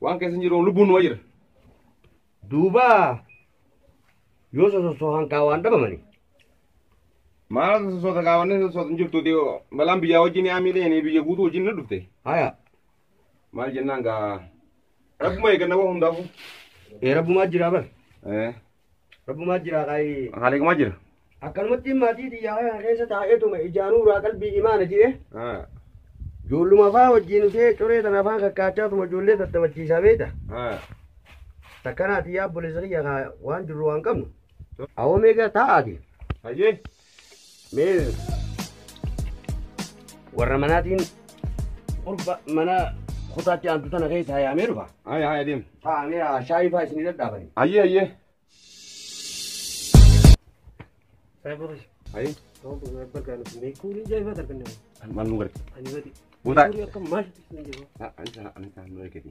Waan keessa hin jiru lubbuun numa jira. Duuba yoo sososohan kaa waan dhabamani. Maal sosoota kaawwanne sosoota hin jirtu dhiyoo balaan biyyaa wajjin yaa miidhee biyya guutuu wajjin na dhufte. Haya Maal jennaan gaa rabbuma eeganna waan hundaafuu. ee rabbumaa jira bar. Eh. Rabbumaa jira qaayii. Haaleekumaa jira. Akkanumatti maatii xiyyaa kana keessa taa'eetuma ijaanuu irraa qalbii imaana jee. Haa. Ijoolluma faa wajjin ishee coree tana afaan kakkaachaatuma ijoollee tattabachiisaa beekta. Haa. Takkanaa xiyyaa obboleessa kiyya kaa waan jirru waan qabnu. Awoo meeqa taa'aati. Hayyee. Mee warra manaatiin qurba mana kutaatti aantu tana keessa hayaamee dhufa. Haya haya deem. Taa'amee shaayii fa'aa isinii dadhaabani. Ayyee ayyee. Ayi maal nu garti? Butaa. Ani isa ani isa nu eegati.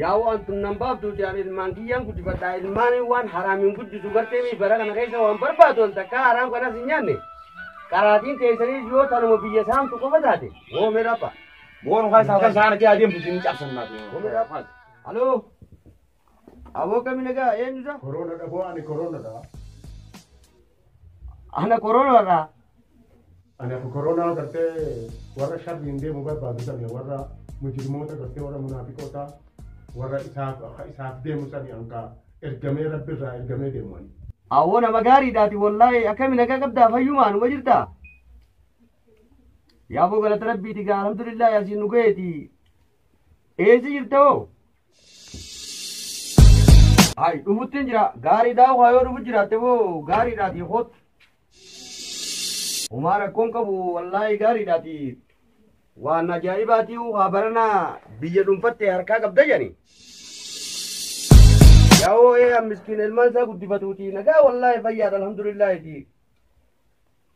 Yaa waan tun nan baaftuuti an ilmaan kiyyaan guddifadha ilmaaniin waan haraamiin guddisu gartee mii bara kana keessa waan barbaadu ol takkaa haraam kanas hin nyaanne qaraatiin teessaniis yoo tanuma biyya saamtu qofa taate woo mee dhapha Boon kan isaa kan isaa argee adeemtu isin cabsan naaf. woo mee dhapha haloo aboo kami nagaa eenyusa Corona da ko ani corona da. Ana korona irraa. Ani akka koronaa gartee warra sharriin deemu barbaadu sani warra mujrimoota gartee warra munaafiqoota warra isaaf akka isaaf deemu sani hanga ergamee rabbi irraa ergamee deemu ani. Awoo nama gaariidhaati wallaahi akkami nagaa qabdaa fayyumaa numa jirtaa. Yaaboo galata rabbiiti gaa alhamdulillah yaasiin nu gaheeti. Eessi jirta hoo? Hayi dhufuttiin jira gaariidhaa waa yoo dhufu jiraatte boo gaariidhaati hoot. Homaa rakkoon qabu wallaahi gaariidhaati. Waan ajaa'ibaati waa baranaa biyya dhuunfatte harkaa qabda jedhani. Yaa'oo ee miskiin ilmaan isaa guddifatuuti nagaa wallaahi fayyaadha alhamdulillaahiti.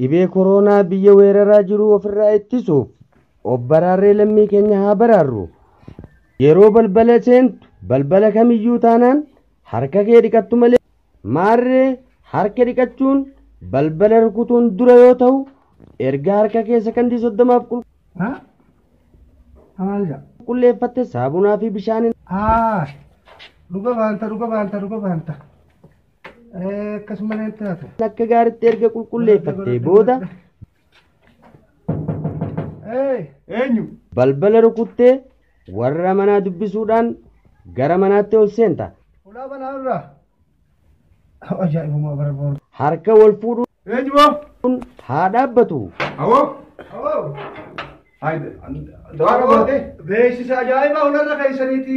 Dhibee koroonaa biyya weeraraa jiru ofirraa ittisuuf of baraarree lammii keenya haa baraarru. Yeroo balbala seentu balbala kamiyyuu taanaan harka kee dhiqattu malee maarree harka dhiqachuun balbala rukutuun dura yoo ta'u erga harka kee sakandii soddomaaf haa maal jedha qulqulleeffatte saabunaa fi bishaaniin haa dhuga baanta dhuga baanta dhuga baanta Akkasuma naan taatu. Akka gaaritti erga qulqulleeffattee booda Eenyu? balbala rukuttee warra manaa dubbisuudhaan gara manaatti ol seenta. Ulaa banaa irraa. Ajaa'ibuma bara boru. Harka wal fuudhuun Eenyu boo? haa dhaabbatu. Awoo? Haayide. Dawaa qabaatee? Beeksisa ajaa'ibaa hularra keessaniiti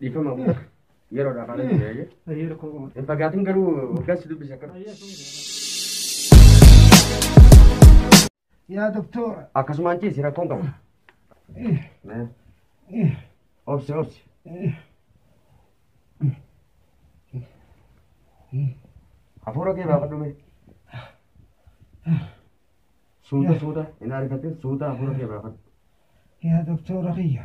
Dhiifama bu'u. Yeroo dhaaf ana jira eeyyee. Ayyee rakkoo qaba. Hin fagaatin garuu hoggaan si dubbise akka. Yaa doktora. Akkasumaan ciisi rakkoon qabu. Obsi obsi. Hafuura kee baafadhu mee. Suuta suuta hin ariifatin suuta hafuura kee baafadhu. Yaa doktora kiyya.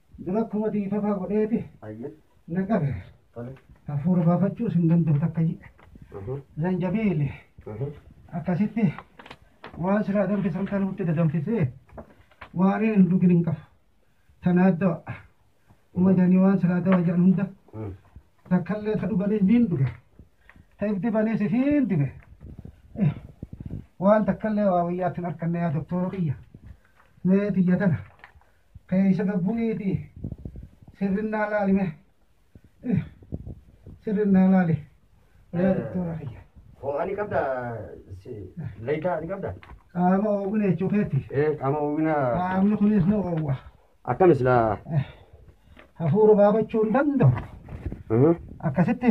Dura akkuma dhiifama godheeti Ayyee. na qabe. Tole. Hafuura baafachuus hin danda'u takka jedhe. Mhm. Zanjabiili Mhm. akkasitti waan silaa danfisan kan nutti dadanfisee waan hin dhugin hin qabu. Tanaa dawa. Uma jedhanii waan silaa dawa jedhan hunda Mm. takkallee ta dhuganii niin dhuge. Ta if dibaniis ifiin dibe. Eh, Waan takkallee waa wayyaatti hin arkanne yaa doktoora kiyya. Mee tiyya tana Keessa gabbuniiti sirrinnaa laali mee. Eh, Sirrinnaa laali. Yaa doktora kiyya. Ho'aa ni qabda layitaa ni qabda. Qaama ooguna jechuu keetti. Ee qaama oogina Qaamni kunis ni oowwa. akkam islaa. Hafuura baafachuu hin danda'u. Akkasitti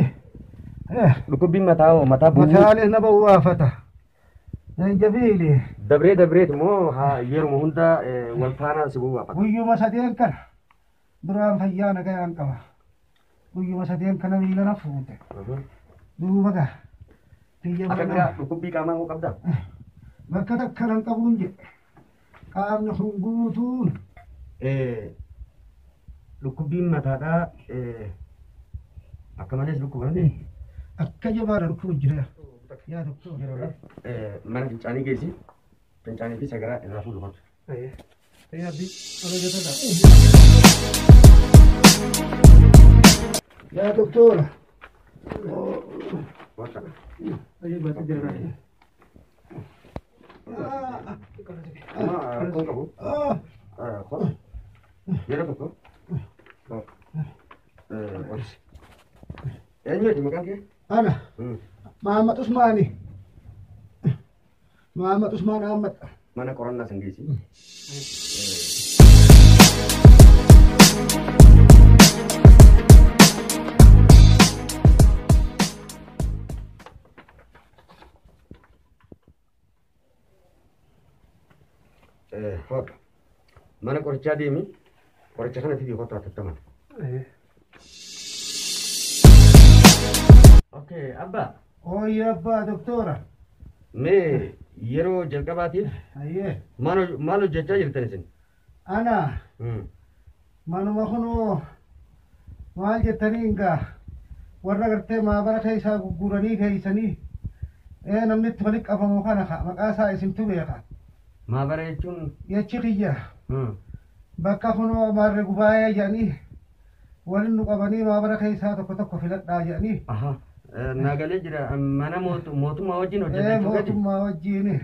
eh, Dhukkubbiin mataa hoo mataa bu'uu. mataalee na bawwaafata. Zanjabiili. Dabree dabreet immoo haa yeruma hunda eh, wal faana si gowwaafata. Guyyuma sadeen kana duraan fayyaa nagayaan qaba. Guyyuma sadeen kana miila na fuute. Mhm. Duuba gaa. Biyya Akka mana- biraa dhukkubbii qaamaa hoo qabdaa? bakka takka nan qabuun jedhe. Qaamni kun guutuun dhukkubbiin mataadhaa akka malees dhukkubanii akka jabaadha dhukkuba jira. Yaa tokko. Mana fincaanii geessi. Fincaanii fi sagaraa irraa fuudhu qabdu. Yaabbi ala jatadha. Yaa doktora. Wanta. Ayyuu baatee jira. Eenyuuti maqaan kee? Ana Mahammad Usmaani. Mahammad Usmaan Ahmad. Mana qorannaa san geessi. Hooqa. Mana qorichaa deemi. Qoricha kana fidii kottu hatattaman. Okay, abbaa. Hooyya abbaa doktora. Mee yeroo jalqabaatiif Ayyee. maal hoj- maal hojjechaa jirtan isin? Ana Mm. manuma kunoo maal jettanii egaa warra gartee maabara keessaa gurguranii keessanii ee namni itti walitti qabamu kana ka maqaa isaa isintu beeka Maabara jechuun. jechi kiyya Mm. bakka kunoo maarre gubaa'ee jedhanii waliin nu qabanii maabara keessaa tokko tokko filadhaa jedhanii Aha. Eh, Naa galee jira. Mana mootu- mootummaa wajjin hojjetan ee jechuudha. mootummaa wajjiini.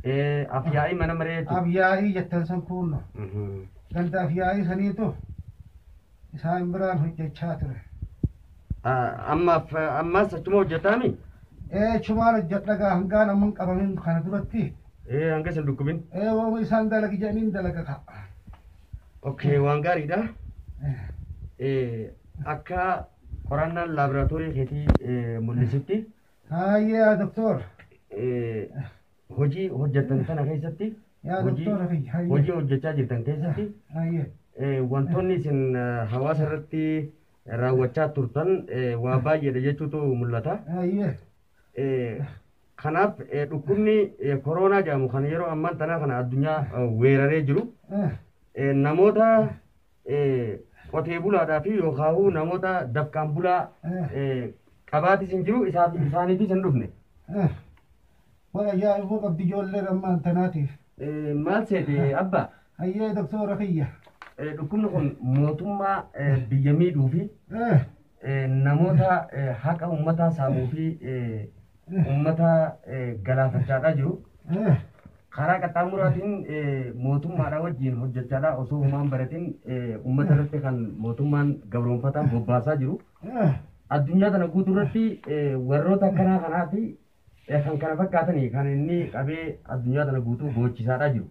Ee, Afyaa'ii mana maree jechuudha. Afyaa'ii jettan san kuunno. Mhm. Ganda afyaa'ii saniitu isaan biraan hojjechaa ture. Ah, Ammaaf ammaas achuma hojjetaami? Ee chumaan hojjedha gaa hangaan amman qabamin kana duratti Ee, hanga isin dhukkubin. ee waama isaan dalagi jedhaniin dalaga ka'a. Okay, waan gaariidha. Eh, akka qorannaan laaboraatoorii keetii eh, mul'isutti Haayye yaa doktor. Eh, hojii hojjettan sana keessatti Yaa hojii- doktora kiyya. Haayye. hojii hojjechaa jirtan keessatti Haayye. eh, wantoonni isin eh, hawaasa irratti raawwachaa turtan eh, waa baay'eedha jechuutu mul'ata. Haayye. Eh, Kanaaf eh, dhukkubni eh, koroonaa jedhamu kan yeroo ammaan tanaa kana addunyaa eh, weeraree jiru Eh. eh, namoota qotee bulaadhaa fi yookaahuu namoota dafqaan bulaa qabaatis hin jiru isaaniifis hin dhufne. Waan ajaa'ibuu qabdi ijoollee rammaan tanaatiif. Maal seete abba? Hayyee doktoora kiyya. Dhukkubni kun mootummaa biyya miidhuu fi namoota haqa uummataa saamuu fi uummata galaafachaadhaa jiru. Karaa qaxxaamuraatiin mootummaadhaa wajjin hojjechaadhaa osoo humaan baratiin uummata irratti kan mootummaan gabroonfataa bobbaasaa jiru. Addunyaa kana guutuu irratti warroota akkanaa kanaa fi kan kana fakkaatanii kan inni qabee addunyaa kana guutuu goochisaadhaa jiru.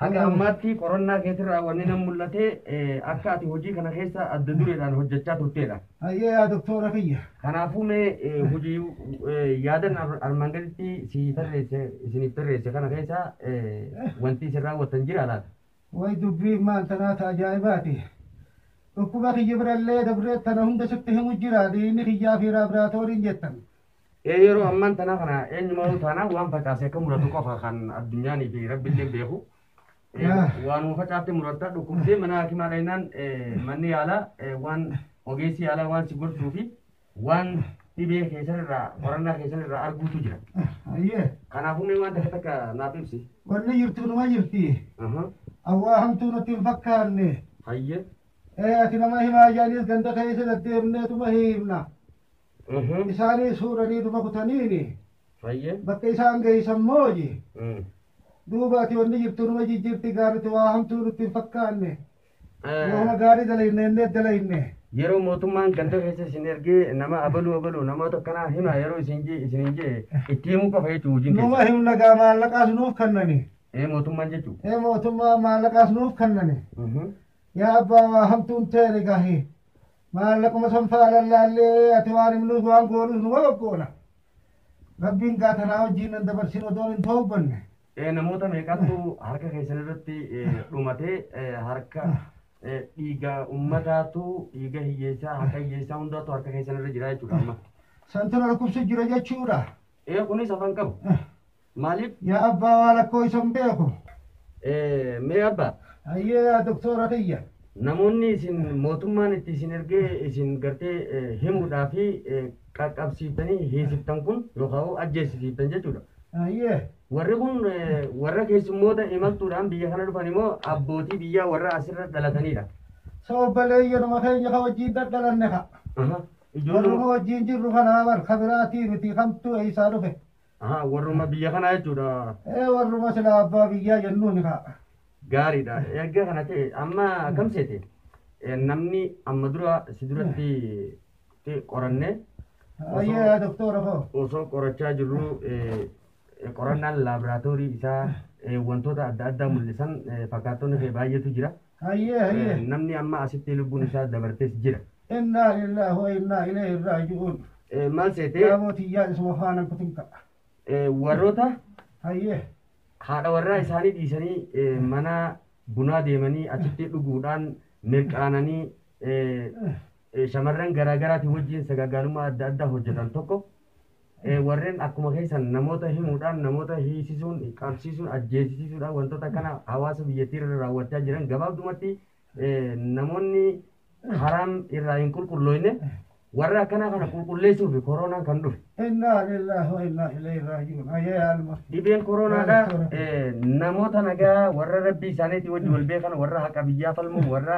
Haga ammaatti qorannaa keetirraa wanni nan mul'ate eh, akka ati hojii kana keessa adda dureedhaan hojjechaa turteedha. Hayyee yaa doktoora kiyya. Kanaafuu mee eh, hojii eh, yaadan ar- armaan gaditti si tarreesse isiniif tarreesse kana keessa eh, wanti isin raawwattan jira laata? Way dubbiin maal tanaata ajaa'ibaati. Dhukkuba kiyya birallee dabree tana hunda sitti himu jira dhiigni kiyyaa fi laaboraatooriin jettan. Ee yeroo ammaan tanaa kana eenyumaanuu taanaa waan facaase akka muratu qofa kan addunyaan fi rabbillee beeku. Ee, Yaa. Waanuma facaatte muratta dhukkubdee mana hakimaa dhaynaan ee, manni yaalaa ee, waan ogeessi yaalaa waan si gorsuu fi waan dhibee keessan irraa qorannaa keessan irraa arguutu jira. Ayyee. Kanaafuu mee waan takka takka naaf ibsi. Wanni jirtu numa jirti. Aha. Awwaa hamtuu natti hin fakkaanne. Hayyee. Ee ati nama himaa jaaniis ganda keessa deddeemneetuma himna. Mhm. Isaaniis fuudhanii duba kutaniini Hayyee. bakka isaan geessan mooji. Mm. Duuba ati wanni jirtu numa jijjiirti gaaritti waa hamtuu nutti hin fakkaanne. Eh, Waanuma gaarii dalayne innee dalayne. Yeroo mootummaan ganda keessa isin ergee nama abaluu abaluu namoota akkanaa hima yeroo isin jee isin hin jee itti himuu qofa jechuun hojiin Numa keessa. himna gaa maallaqaas nuuf kennani. Ee mootummaan jechuun. Ee mootummaa maallaqaas nuuf kennani. Mhm. Yaa abbaa waa hamtuun ta'e gahi. Maallaquma san faalan laallee ati waan himnuus waan goonuus numa goggoona. Rabbiin gaa tanaa wajjiin nan dabarsin odoon hin toobbanne. Eh, Namoota meeqatu harka keessan irratti eh, dhumatee eh, harka eh, dhiiga ummataatu dhiiga hiyyeessaa haqa hiyyeessaa hundaatu harka keessan irra jira jechuudha amma. Santu na dhukkubsu jira jechuudha. Eh, kunis afaan qabu. Maaliif? Yaa abbaa waan akkoo isa hin beeku. Eh, Mee abba, Hayyee yaa doktoora kiyya. namoonni isin mootummaan itti isin ergee isin gartee eh, himuudhaa fi eh, qaqqabsiiftanii hiisiftan kun yookaan ajjeesisiiftan jechuudha. Hayyee. Warri kun eh, warra keessummoota imaltuudhaan biyya kana dhufan immoo abbootii biyyaa warra asirra dhalatanidha. So obbaleeyyanuma keenya ka wajjin dadhalanne ka. Aha. Warruma Ijoollee wajjin jirru kanaa bar ka biraatii miti kamtu eessaa dhufe. Aha, warruma biyya kanaa jechuudha. Ee warruma silaa abbaa biyyaa jennuun kaa. Gaariidha. Erga kana ta'e amma kam seete? Eh, Namni amma dura si duratti ti qoranne Ayyee doktora koo. osoo qorachaa jirru eh, eh, qorannaan laaboraatoorii isaa eh, wantoota adda addaa mul'isan eh, fakkaattonni kee baay'eetu jira. Hayyee Eh, hayyee. Namni amma asitti lubbuun isaa dabartes jira. Innaa lillaah wa innaa ilayhi raaji'uun. Eh, Maal seete Yaaboo tiyyaa isuma faana kutin ka'a. eh, warroota Hayyee. haadha warraa isaanii dhiisanii eh, mana bunaa deemanii achitti dhuguudhaan mirqaananii eh, eh, shamarran garaa garaatiin wajjin sagaagalummaa adda addaa hojjetan tokko warren akkuma keessan namoota himuudhaan namoota hiisisuun qabsiisuun ajjeesisiisuudhaan wantoota kana hawaasa biyyattii irra raawwachaa jiran gabaabdumatti namoonni haraam irraa hin qulqullooyne warra akkanaa kana qulqulleessuu fi koronaan kan dhufe. Innaa lillahi wa innaa ilayhi raaji'uun. Ayyee alma. Dhibeen koronaadha namoota nagaa warra rabbii isaaniitii wajji wal beekan warra haqa biyyaa falmu warra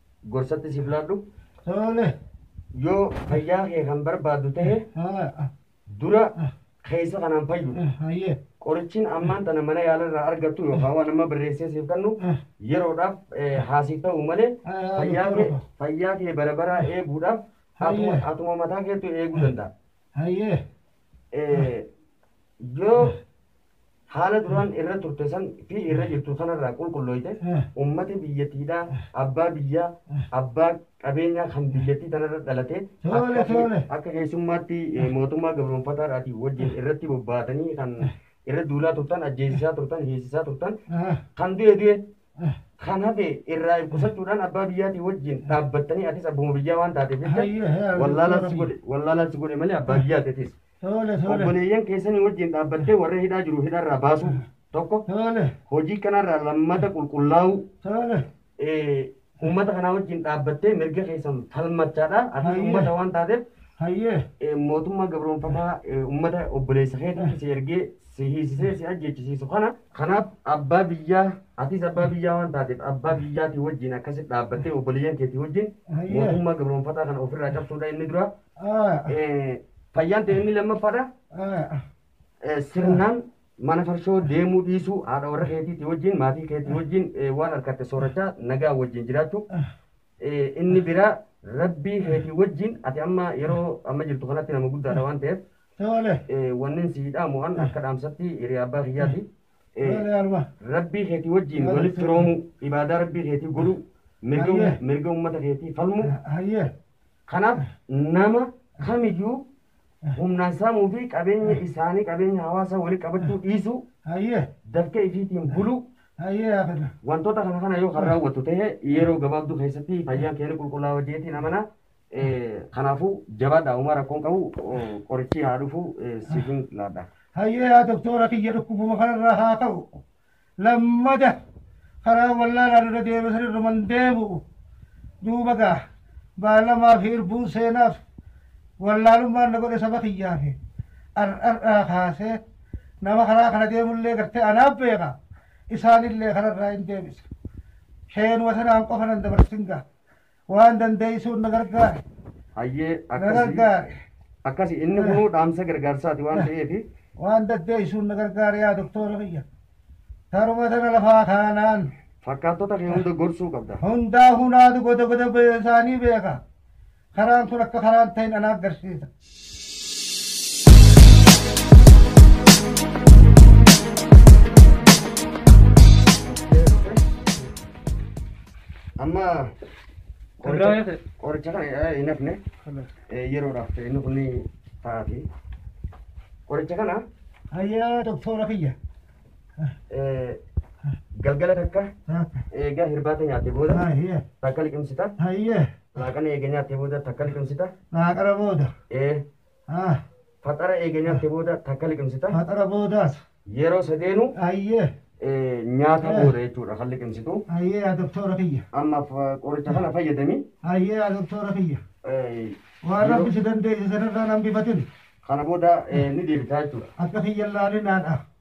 gorsatti siif laadhu. Tole. Yoo fayyaa kee kan barbaaddu ta'e Haa. dura keessa kanaan fayyu. Hayyee. Qorichiin ammaan tana mana yaalarraa argattu yookaan waan amma barreessee siif kennu yeroodhaaf eh, haasiif ta'u malee Ah, fayyaa kee doktora. fayyaa kee bara baraa eeguudhaaf atuma Hayyee. atuma mataa keetu eeguu danda'a. Hayyee. Eh, Yoo haala duraan irra turte san fi irra jirtu sanarraa qulqullooyte ummata biyyatiidhaa abbaa biyyaa abbaa qabeenyaa kan biyyattii tanarra dhalatee Toole, akka- toole. akka keessummaatti eh, mootummaa gabroonfataadhaatii wajjin irratti bobbaatanii kan irra duulaa turtan ajjeesisaa turtan hiisisaa turtan Ah, kan du'e du'e ah. kan hafe irraa ibsachuudhaan abbaa biyyaatii wajjin dhaabbattanii atis abbuma biyyaa waan taateef jecha Hayyee, yaa wallaalaan si Rabbii. godhe wallaalaan si godhe malee abbaa biyyaati atis Tole tole. Obboleeyyan keessanii wajjin dhaabbattee warra hidhaa jiru hidharraa baasuu tokko Tole. hojii kanarraa lammata qulqullaa'uu Tole. eh, uummata kanaa wajjin dhaabbattee mirga keessan falmachaadha. Ati Hayyee. uummata waan taateef Hayyee. eh, mootummaa gabroonfataa eh, uummata obboleessa keetiif si ergee si hiisisee si ajjeechisiisu kana kanaaf abbaa biyyaa atis abbaa biyyaa waan taateef abbaa biyyaatii wajjin akkasitti dhaabbattee obboleeyyan keetii wajjin Hayyee. mootummaa gabroonfataa kana ofirraa cabsuudha inni dura Eh, Fayyaan ta'e inni lammaffaadha. Eh, Sirnaan mana farshoo deemuu dhiisuu haadha warra keetiitii wajjin maatii keetii wajjin eh, waan argatte soorachaa nagaa wajjin jiraachuu. Eh, Inni biraa rabbii keetii wajjin ati amma yeroo amma jirtu kanatti nama guddaadha waan ta'eef eh, wanneen si hidhaamu an akka dhaamsatti hiriyaa abbaa kiyyaati. Eh, rabbii keetii wajjin Yaa walitti Rabbi. roomuu ibaadaa rabbii keetii godhuu mirga Hayyee. mirga uummata keetii falmuu Kanaaf nama kamiyyuu humnaan saamuu fi qabeenya isaanii qabeenya hawaasaa walitti qabachuu dhiisuu Hayyee. dafqee ifiitiin buluu Hayyee haa fedha. wantoota kana kana yoo kan raawwatu ta'e yeroo gabaabduu keessatti fayyaan keenya qulqullaa'oo jeetiin amana. Eh, Kanaafuu jabaadhaa uumaa rakkoon qabu oh, qorichi haa dhufu eh, siifin laadha. Hayyee yaa doktoora kiyya dhukkubuma kanarraa haa ka'u. lammada karaa wallaalaan irra deeme san irruman deemu'u duuba gaa baalamaa fi irbuun seenaaf wallaalummaan na godhe saba kiyyaa fi ar'ar'aa kaasee nama karaa kana deemullee gartee anaaf beeka isaanillee kanarraa hin deebisa sheenuma sanaan qofa nan dabarsin gaa Waan dandeessuun na gargaari. Hayyee Na akkasi. gargaari. Akkasi inni kunuu dhaamsa gargaarsaati waan ta'eef Waan dandeessuun na gargaari yaa doktoora kiyya. Taruma tana lafaa kaanaan fakkaattota kee hunda gorsuu qabda. hundaa hunaatu goda goda isaanii beeka. Karaan kun akka karaan ta'in anaa agarsiisa. Amma qoricha qoricha kana hin hafne yeroodhaaf ta'e inni kun taati. Qoricha kana Hayyaa doktora kiyya. eh, galgala takka Taakka. eegaa hirbaata nyaatte booda Hayya. takka liqimsita. Hayya. Laaqana eega nyaattee booda takka liqimsita. Laaqana booda. Ee. Haa. Faxara eega nyaattee booda takka liqimsita. Faxara boodaas. Yeroo sadeenu. Ayyee. ee, nyaata Eh. booda jechuudha kan liqimsitu. Ayyee yaa doktoora kiyya. Amma fa- qoricha kana fayyadami. Ayyee yaa doktoora kiyya. ee, Waan yeroo- rabbi si dandeesse sanarraa nan bifatin. Kana booda ee, ni deebitaa jechuudha. Akka kiyya laalinaadha.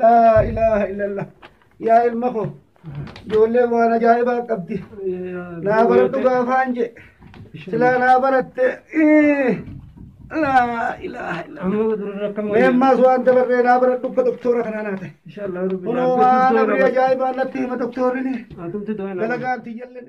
laa ilaaha illallah yaa ilma koo ijoolleen waan ajaa'ibaa qabdi naa baradhu gaafaan jee silaa naa baratte ii, laa ilaaha illallah meemmaas waan dabarree naa baradhu akka doktoora kanaa naa ta'e kunoo waan abrii ajaa'ibaa natti hima doktoorrini dalagaan tiyyalleen